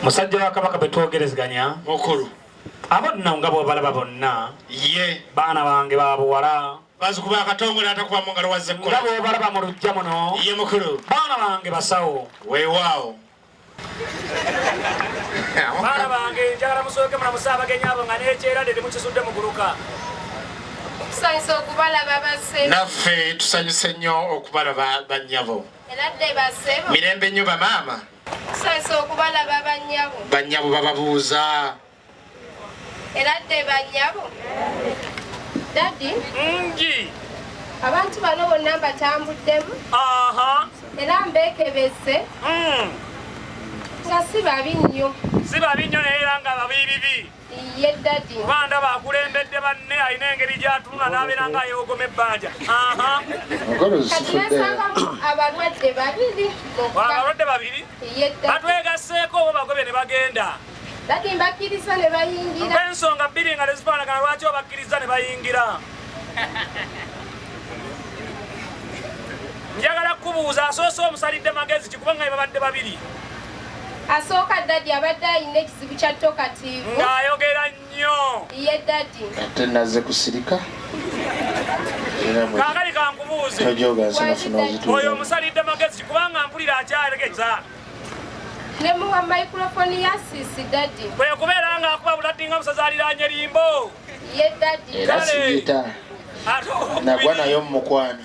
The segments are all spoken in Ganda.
musajja wa kabaka betwogerezganya mukulu abonna nga bwobalaba bonna ye baana bange babuwala bazukuba akatongole atakuba mu ngalo wazze nga bwobalaba mu lujja muno ye mukulu baana bange basawo weewaawo baana bange njagala musooke mulamusa abagenyi abo nga nekyera dede mukizudde muguluka tusanyuse okubalaba base naffe tusanyuse nnyo okubalaba bannyabo mirembe nnyo bamaama Tusesa okubalaba bannyabo. Bannyabo bababuuza. Era dde bannyabo. Daddy. Ngi. Abantu bano bonna mbatambuddemu. Aha. Era mbekebese. Mm. Nga si babi nnyo. Si babi nnyo naye era nga babi bibi. kuba ndaba akulembedde banne alina engeri gyatunula n'abeera nga ayewogoma ebbanja abalwadde babiri batwegasseeko obo bagobe ne bagenda ensonga bbiri nga tezifaanagana lwaki obakkiriza ne bayingira njagala kukubuuza asoose omusalidde magezi kikuba nga babadde babiri Asooka Daddy abadde alina ekizibu kya tokatiivu. Ng'ayogera nnyo. Ye Daddy. Ate nazze kusirika. Kaakali kankubuuze. Tojooga nsi nafuna ozituuza. Oyo omusalidde magezi kubanga mpulira akyaregeza. Ne muwa microphone ya sisi Daddy. Kwe kubeera ng'akuba bulatti nga musaza aliraanye limbo. Ye Daddy. Era sigita. Nagwa nayo mu mukwano.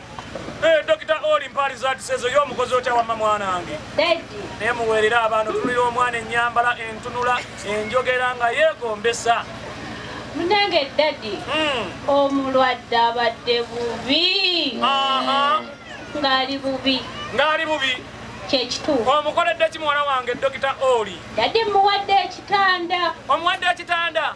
Eh, Dokita Oli Mpaali Zaatisezo yo omukozi otya wamma mwanange naye muweerera abaana otunulira omwana ennyambala entunula enjogera nga yeegombesa munange dadi hmm. omulwadde abadde bubi ng'ali bubi ng'ali bubi kyekituufu omukoledde ki muwala wange dokita oli dadi muwadde ekitanda omuwadde ekitanda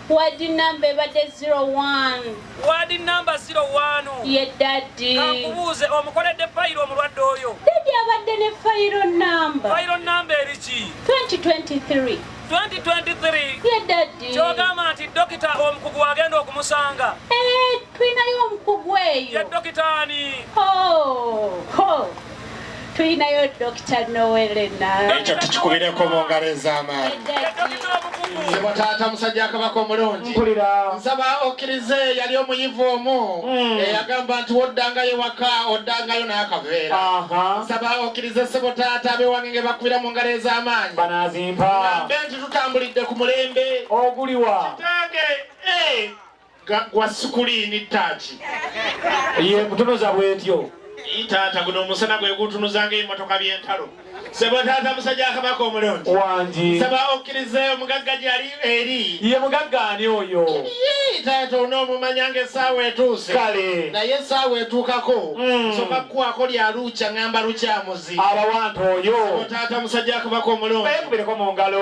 Ward number ebadde zero one. Ward number zero one. Ye daddy. Kankubuuze omukoledde fayiro omulwadde oyo. Daddy abadde ne fayiro number. Fayiro number eriki? 2023. 2023. Ye daddy. Kyogamba nti dokita omukugu agenda okumusanga. Eh. Tulinayo omukugu eyo. Ye dokita ani? Ho, ho. Tulinayo Dokita Noelena. Ekyo tukikubireko mu ngalo ez'amaanyi. Sebo taata musajja akabaka omulungi nsaba okkirize yali omuyivu omu hmm. eyagamba nti woddangayo ewaka oddangayo n'akaveera nsaba okkirize sebo taata abewange nge bakubira mu ngalo ez'amaanyi banazimpa nti tutambulidde ku mulembe oguliwa kitange eh. gwa sukuliini ttaaki ye kutunuza bwetyo taata guno omusana gwe gutunuzanga emotoka byentalo sebo taata musajja akabaka omulungi wangi saba okkirize omugagga gyali eri ye mugagga ani oyo taata onoomumanyanga essaawa etuuse kale naye essaawa etuukako hmm. soka kukwako lya lukya ngamba lukyamuzi abawantu oyo taata musajja akabaka omulungi bekubireko mu ngalo